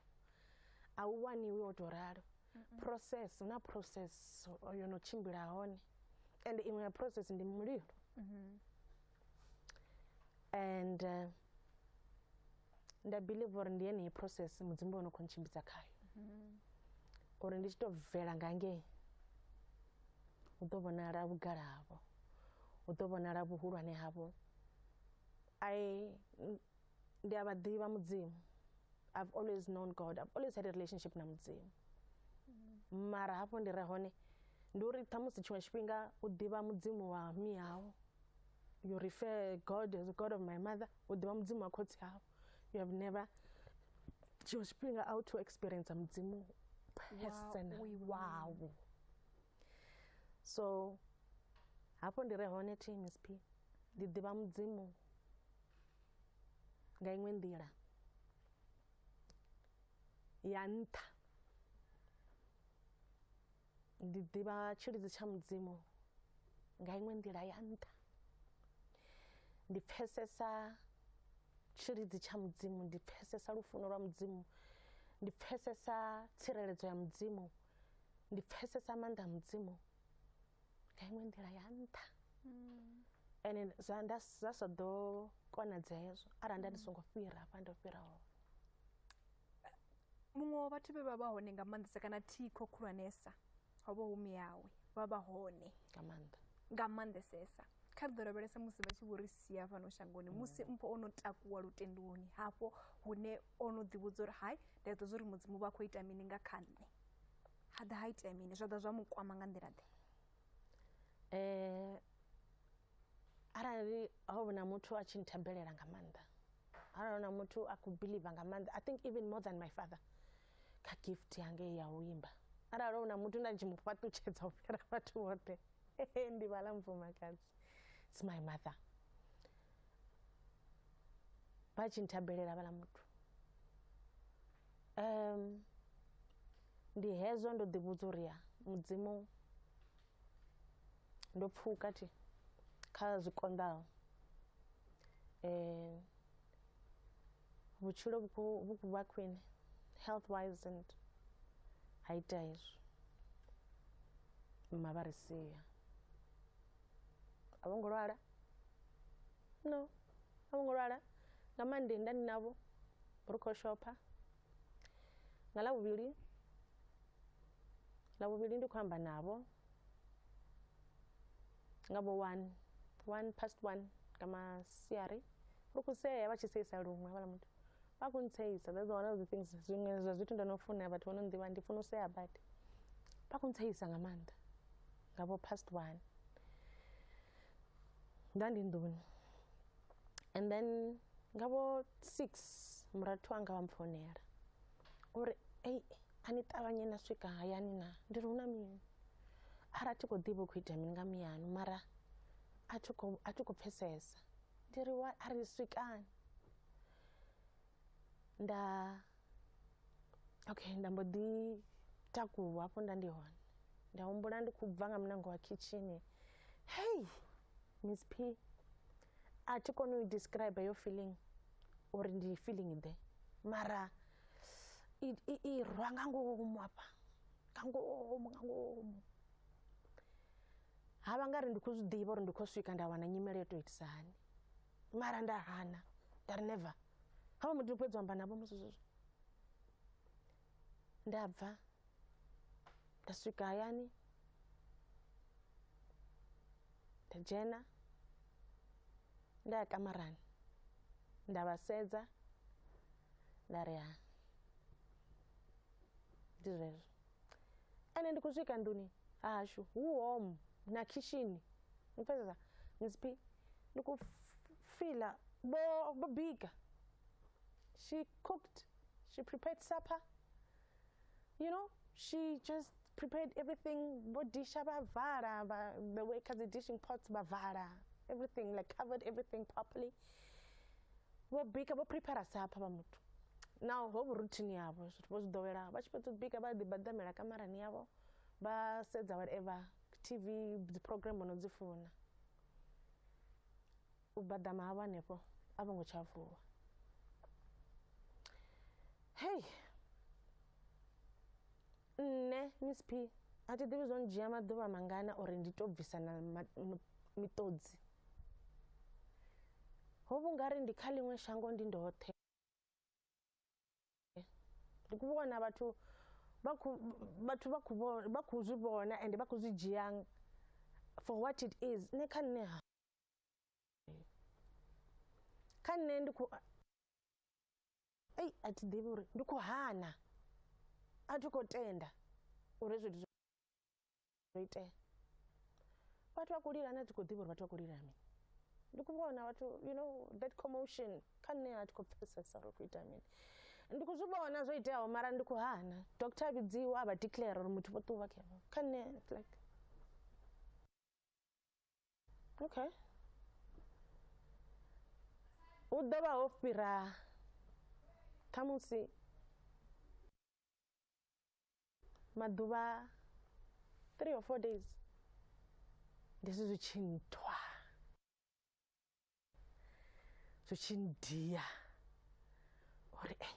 a u waniwi o to ralo process na process yo no tshimbila hone and iṅwe ya process ndi mulilo mm-hmm. and uh, nda believe uri ndi yeneyi process mudzimu vha no khou ntshimbidza khayo mm-hmm. uri ndi tshi tou bvela nga ngei u ḓo vhonala vhugala havho u ḓo vhonala vhuhulwane havho i ndi a vha ḓivha mudzimu i've always known god i've always had a relationship na mudzimu mm-hmm. mara hafho ndi re hone ndi uri ṱhamusi tshiṅwe tshifhinga u ḓivha mudzimu wa miyawo you refer god as god of my mother u ḓivha mudzimu wa khotsi hau you have never tshiṅwe tshifhinga a u to experience mudzimu personally wawo so hafho ndi re hone tmsp ndi ḓivha mudzimu nga iṅwe nḓila ya nṱha Ndi ḓivha tshilidzi tsha mudzimu nga iṅwe nḓila ya nṱha ndi pfesesa tshilidzi tsha mudzimu ndi pfesesa lufuno lwa mudzimu ndi pfesesa tsireledzo ya mudzimu ndi pfesesa maanḓa a mudzimu nga iṅwe nḓila ya nṱha ene zwa nda zwa sa ḓo konadza hezwo arali nda ndi songo fhira hafha ndo fhira hone muṅwe wa vhathu vhe vha vha hone nga maanḓesa kana thikho khulwanesa ho vha hu miyawe vha vha hone nga maanḓa nga maanḓesesa kha ri ḓo lavhelesa musi vha tshi vho ri sia fhano shangoni musi mpho o no takuwa lutendoni hafho hune o no ḓivhudza uri hai ndi a ḓo zwa uri mudzimu vha khou ita mini nga kha nṋe ha ḓa ha itea mini zwa ḓa zwa mu kwama nga nḓila ḓe um arali ho vhona muthu a tshi nthabelela nga maanḓa arali hona muthu a khou believer nga maanḓa i think even more than my father kha gift yange ya u imba arali hona muthu nda ndi tshi mu fhaṱutshedza u fhira vhathu vhoṱhe ndi vhala mfumakadzi it's my mother vha tshi nthabelela vhala muthu um ndi hezwo ndo ḓivhudza uri ya mudzimu ndo pfuka thi kha zwi konḓaho vhutshilo vhu khou vhu khou vha khwine health wise and ha ita hezwo mma vha ri sia a vho ngo lwala no a vho ngo lwala nga mande nda ndi navho ri khou shopha nga lavhuvhili lavhuvhili ndi khou amba navho nga vho one one past one nga masiari ri khou sea vha tshi seisa luṅwe havhala muthu vha khou ntseisa that's one of the things zwiṅwe zwa zwithu ndo no funa vhathu vho no nḓivha ndi funa u sea badi vha khou ntseisa nga maanḓa nga vho past one nda ndi nḓuni and then nga vho six murathu wanga wa mpfonela uri ei a ni ṱavhanye na swika hayani na ndi ri hu na mini ara thi khou ḓivha u khou ita mini nga miyanu mara a thi khou pfesesa ndi ri wa a ri swikani nda okay nda mbo ḓi takuwa hafho nda ndi hone nda humbula ndi khou bva nga munango wa khitshini hey miss p a thi koni u describe yo feeling uri ndi feeling ḓe mara i rwa nga ngomu hafha nga ngomu nga ngomu ha vha nga ri ndi khou zwi ḓivha uri ndi khou swika nda wana nyimele yo tou itisa hani mara nda hana nda ri never ha vha muthu fhedzi u amba navho musi zwezwo nda bva nda swika hayani nda dzhena nda ya kamarani nda vha sedza nda ri ha ndi zwezwo. ene ndi khou swika nduni hashu hu home na khishini mupfesesa msp ndi khou fila bo bo bika she cooked she prepared supper you know she just prepared everything bo disha vha vala vha the way kha dzi dishing pots vha vala everything like covered everything properly vho bika vho prepare supper vha muthu now ho vhu routine yavho zwithu vho zwi ḓowela vha tshi fhedza u bika vha ḓi badamela kamarani yavho vha sedza whatever tv dzi program no dzi funa u badama havho hanefho a vho ngo tsha vuwa hei Nṋe, Miss P, a thi ḓivhi zwo ndzhia maḓuvha mangana uri ndi tou bvisa na miṱodzi. Ho vha u nga ri ndi kha ḽiṅwe shango ndi ndoṱhe. Ndi khou vhona vhathu vha khou vhathu vha khou vha khou zwi vhona ende vha khou zwi dzhia for what it is. Nṋe kha nṋe ha kha nṋe ndi khou. ei a thi ḓivhi uri ndi khou hana a thi khou tenda uri hezwi zwithu zwo itea vhathu vha khou lila na thi khou ḓivha uri vhathu vha khou lila mini ndi khou vhona vhathu you know that commotion kha nṋe a thi khou pfesesa uri khou ita mini ndi khou zwi vhona zwo iteaho mara ndi khou hana doctor a vhidziwa a vha declare uri muthu vho ṱuwa kha nṋe like okay hu ḓo vha ho fhira khamusi maḓuvha three or four days ndi zwi zwi tshi nthwa zwi tshi ndia uri ei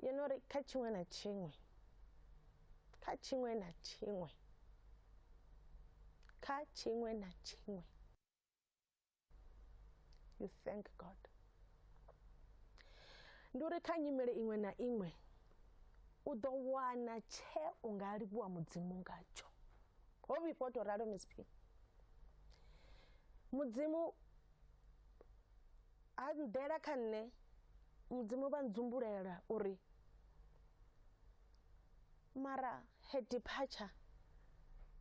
ngeno uri kha tshiṅwe na tshiṅwe kha tshiṅwe na tshiṅwe kha tshiṅwe na tshiṅwe you thank god ndi uri kha nyimele iṅwe na iṅwe u ḓo wana tshe u nga livhuwa mudzimu ngatsho ho vhifho to ralo misp mudzimu a ḓela kha nṋe mudzimu vha ndzumbulela uri mara her departure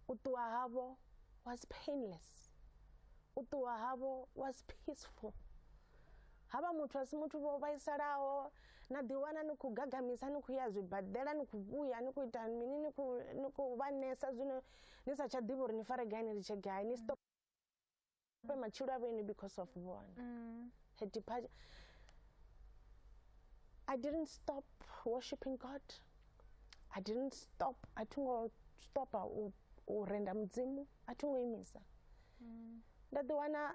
u ṱuwa havho was painless u ṱuwa havho was peaceful havha muthu a si muthu vho vhaisalaho na ḓiwana ni khou gagamisa ni khou ya zwibadela ni khou vhuya ni khou ita mini ni khou vha nesa zwino ni sa tsha ḓivha uri ni fare gai ni litshe gai ni stop But my children are because of one. Mm. Her departure. I didn't stop worshiping God. I didn't stop. I don't stop or render mudzimu. I don't imisa. Mm. That the one uh,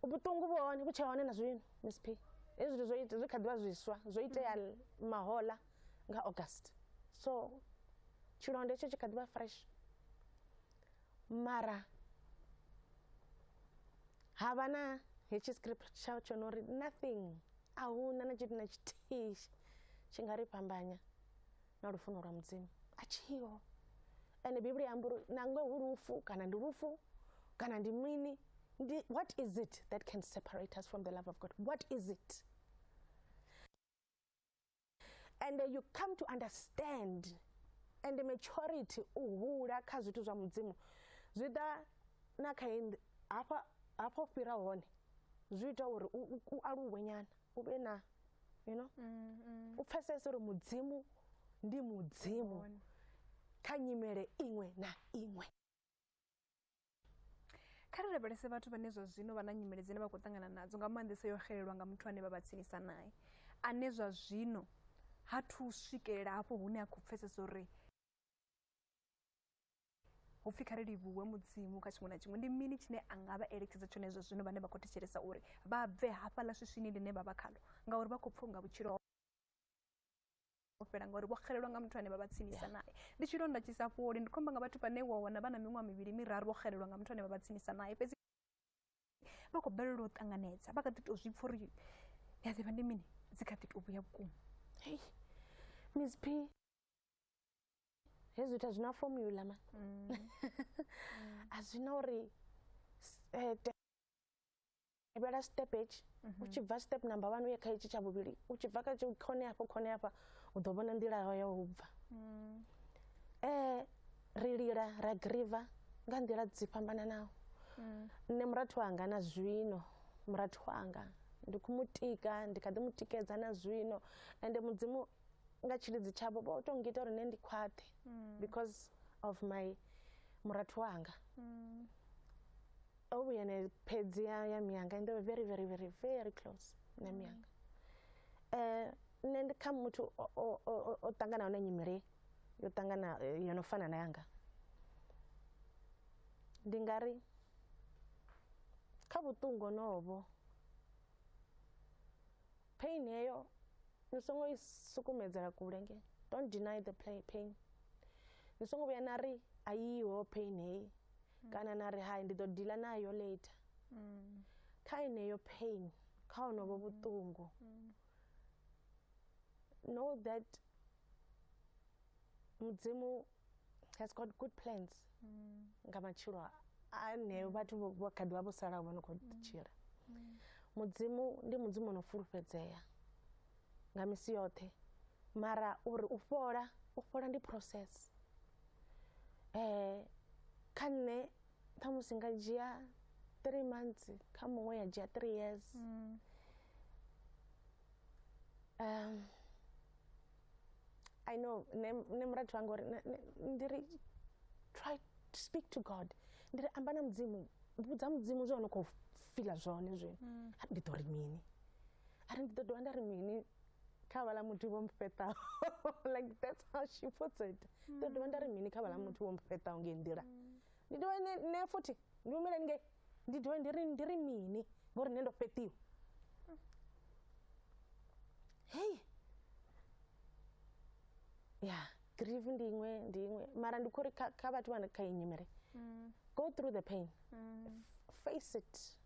ubutungu bone kutsha hone na zwino Miss P. Ezwi zwi zwi zwi kha ḓivha zwiswa zwo itea mm. mahola nga August. So tshilonde tsho tshi kha ḓivha fresh. mara ha vha na hetshi script tsha tsho no ri nothing a hu na na tshithu na tshithihi tshi nga ri fhambanya na lufuno lwa mudzimu a tshiho ende bivhili amba uri nangwe hu lufu kana ndi lufu kana ndi mini ndi what is it that can separate us from the love of god what is it and you come to understand and maturity u hula kha zwithu zwa mudzimu zwi ḓa na kha hafha hafho fhira hone zwi ita uri u aluwe nyana u vhe na you know mm, mm. u pfesese uri mudzimu ndi mudzimu kha nyimele iṅwe na iṅwe kha ri lavhelese vhathu vhane zwa zwino vha na nyimele dzine vha khou ṱangana nadzo nga maanḓesa yo xelelwa nga muthu ane vha vha tsinisa naye ane zwa zwino ha thu swikelela hafho hune a khou pfesesa uri hu pfhi kha ri livhuwe mudzimu kha tshiṅwe na tshiṅwe ndi mini tshine a nga vha eletshedza tshone zwa zwino vhane vha khou thetshelesa uri vha bve hafhaḽa swiswini ḽine vha vha khalo ngauri vha khou pfha unga vhutshilo u fhela ngauri vho xelelwa nga muthu ane vha vha tsinisa naye ndi tshilonda tshi sa fholi ndi khomba nga vhathu vhane wa wana vha na miṅwaha mivhili miraru vho xelelwa nga muthu ane vha vha tsinisa naye fhedzi vha khou balelwa u ṱanganedza vha kha ḓi tou zwi pfha uri ya ḓivha ndi mini dzi kha ḓi tou vhuya vhukuma hei miss p hezwi zwithu a zwi na formula ma a zwi na uri tevhela step etshi u tshi bva step number one u ye kha etshi tsha vhuvhili u tshi bva kha tshi khone hafho khone hafha u ḓo vhona nḓila yawe ya u bva um ri lila ra griva nga nḓila dzi fhambananaho nṋe murathu wanga na zwino murathu wanga ndi khou mu tika ndi kha ḓi mu tikedza na zwino ende mudzimu nga tshilidzi tshavho vho to ngita uri nṋe ndi khwaṱhe because of my murathu wanga o vhuya ne phedzi ya ya miyanga and they were very very very very close na mm. miyanga eh nṋe ndi kha muthu o ṱanganaho na nyimele yo ṱangana eh, yo no fana na yanga ndi nga ri kha vhuṱungu honovho pain heyo ni songo i sukumedzela kule nge don't deny the pain ni songo vhuya na ri a yiho pain heyi kana na ri hai ndi ḓo dila nayo later kha yeneyo pain kha honovho vhuṱungu know that mudzimu has got good plans nga matshilo a- aneo vhathu vho- vho kha ḓivha vho salaho vho no khou tshila mudzimu ndi mudzimu ono fulufhedzea nga misi yoṱhe mara uri u fhola u fhola ndi process eh kha nṋe ṱhamusi nga dzhia three months kha muṅwe ya dzhia three years mm. um i know ne ne murathu wanga uri ndi ri try to speak to god ndi ri amba na mudzimu vhudza mudzimu zwe ono khou fila zwone zwino mm. ndi ḓo ri mini ari ndi ḓo dovha nda ri mini kha vhala muthu vho mfheṱaho like that's how she puts it ndo dovha nda ri mini kha vhala muthu vho mfheṱaho ngei nḓila ndi dovha ne ne futhi ndi humela ngei ndi dovha ndi ri ndi ri mini ngori nṋe ndo fheṱiwa hey ya grieve ndi iṅwe ndi iṅwe mara ndi khori kha kha vhathu vha kha iyi nyimele go through the pain face it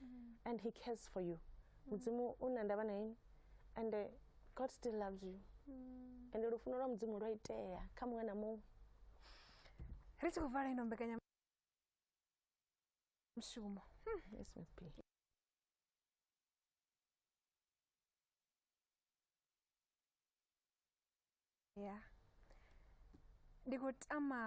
mm. and he cares for you mm. mudzimu u na ndavha na ini and uh, god still loves you mm. and lufuno lwa mudzimu lwa itea kha muṅwe na muṅwe ri tshi khou vala ino mbekanya mushumo hmm. yes, yeah ndi khou tama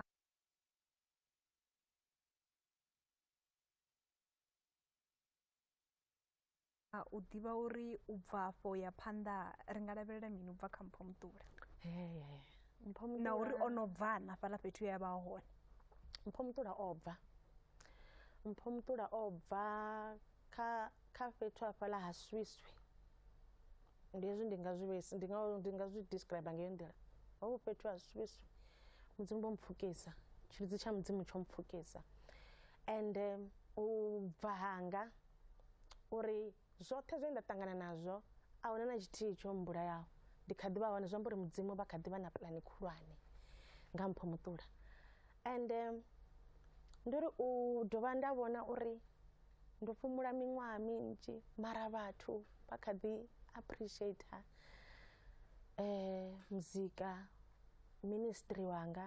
a u ḓivha uri u bva afho ya phanḓa ri nga lavhelela mini u bva kha mpho muṱula na uri o no bva na fhaḽa fhethu ya vha hone mpho muṱula o bva mpho muṱula o bva kha kha fhethu hafhaḽa ha swiswi ndi hezwi ndi nga zwi vhesi ndi nga ndi nga zwi describe nga nḓila ho vhu fhethu ha swiswi mudzimu vho mpfukisa tshilidzi tsha mudzimu tsho mpfukisa and u bva hanga uri zwoṱhe zwe nda ṱangana nazwo a huna na tshithihi tsho mbulayaho ndi kha ḓi vha hone zwi amba uri mudzimu vha kha ḓi vha na pulani khulwane nga mpho muṱula and ndi uri u dovha nda vhona uri ndo fhumula miṅwaha minzhi mara vhathu vha kha ḓi appreciator eh muzika ministry wanga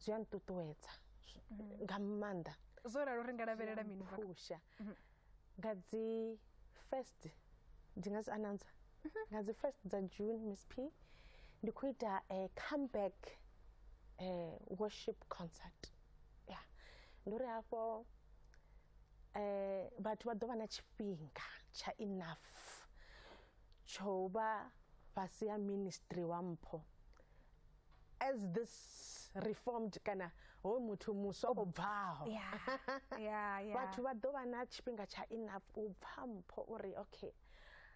zwi a nṱuṱuwedza nga maanḓa zwo ralo ri nga lavhelela mini bva phusha mhm. nga dzi first ndi nga dzi announcer mhm. nga dzi first dza june miss p ndi khou ita a eh, comeback eh, worship concert ya ndi uri hafho eh vhathu vha ḓo vha na tshifhinga tsha enough tsho vha fhasi ha ministry wa mpho as this reformed kana hoyu muthu muswa o bvaho vhathu vha ḓo vha na tshifhinga tsha enough u pfha mpho uri okay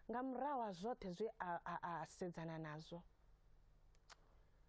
nga murahu ha zwoṱhe zwe a sedzana nazwo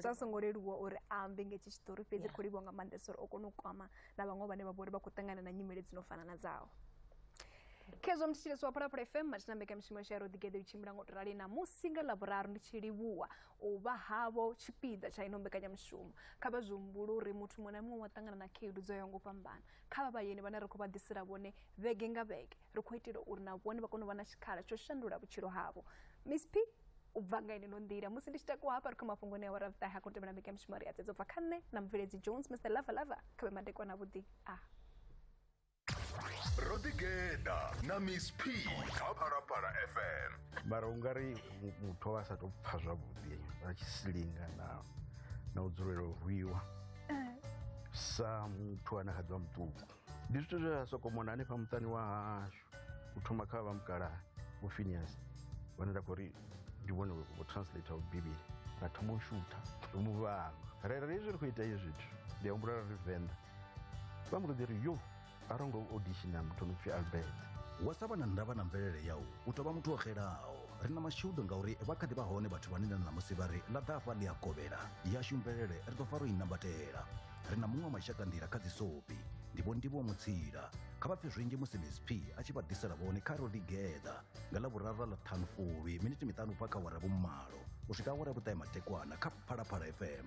zwa songo leluwa uri a ambe nga hetshi tshiṱori fhedzi ri khou livhuwa nga maanḓesa uri o kona u kwama na vhaṅwe vhane vha vha uri vha khou ṱangana na nyimele dzi no fana na dzao khezwo mthetshelesi wa phalaphala fm mathina mbekamishumo yashu ya ro ḓigeḓe u tshimbila ngo to rali namusi nga ḽavhuraru ndi tshi livhuwa u vha havho tshipiḓa tsha ino mbekanyamushumo kha vha zwi humbule uri muthu muṅwe na muṅwe wa ṱangana na khaedu dzo yaho ngo fhambana kha vha vhayeni vhane ri khou vha ḓisela vhone vhege nga vhege ri khou itela uri na vhone vha kone u vha na tshikhala tsho shandula vhutshilo havho miss p u bva nga ine no nḓila musi ndi tshi takuwa hafha ri kha mafhungo ne awara vhuṱahe ha khou tevhela mbeka mishumo ri adzedzo bva kha nṋe na mubveledzi jones mr lava lava kha vhe madekwana avhuḓi a ro ḓigeḓa na miss p kha phalaphala fm mara u nga ri muthu wa sa tou pfha zwavhuḓi vha tshi silinga na na u dzulela u rwiwa eh. sa muthu ane kha ḓivha muṱuku ndi zwithu zwe ra sokomona hanefha muṱani wa hashu u thoma kha vha mukalaha vho finias vhane nda khou ri ndi vhone vho translate u bivhili ra thoma u shutha ri mu vhanga rera hezwi ri khou ita hezwi zwithu ndi a humbula ra ri venḓa vha mbo ḓi ri yo a ro ngo auditiona muthu no pfhi albert wa sa vha na ndavha na mvelele yau u tovha muthu o xelaho ri na mashudu ngauri vha kha ḓi vha hone vhathu vhane na ṋamusi vha ri ḽa ḓafha ḽi a kovhela yashu mvelele ri ḓo fa ro i nambatela ri na muṅwe wa mashakanḓila kha dzisopi ndi vho ndivho mutsila kha vha pfe zwinzhi musi msp a tshi vha ḓisela vhone kha ro ḓigeḓa nga ḽa vhuraru ḽa ṱhanu fulwi miniti miṱanu bva kha wara vhumalo u swika awara vhuṱae matekwana kha phalaphala fm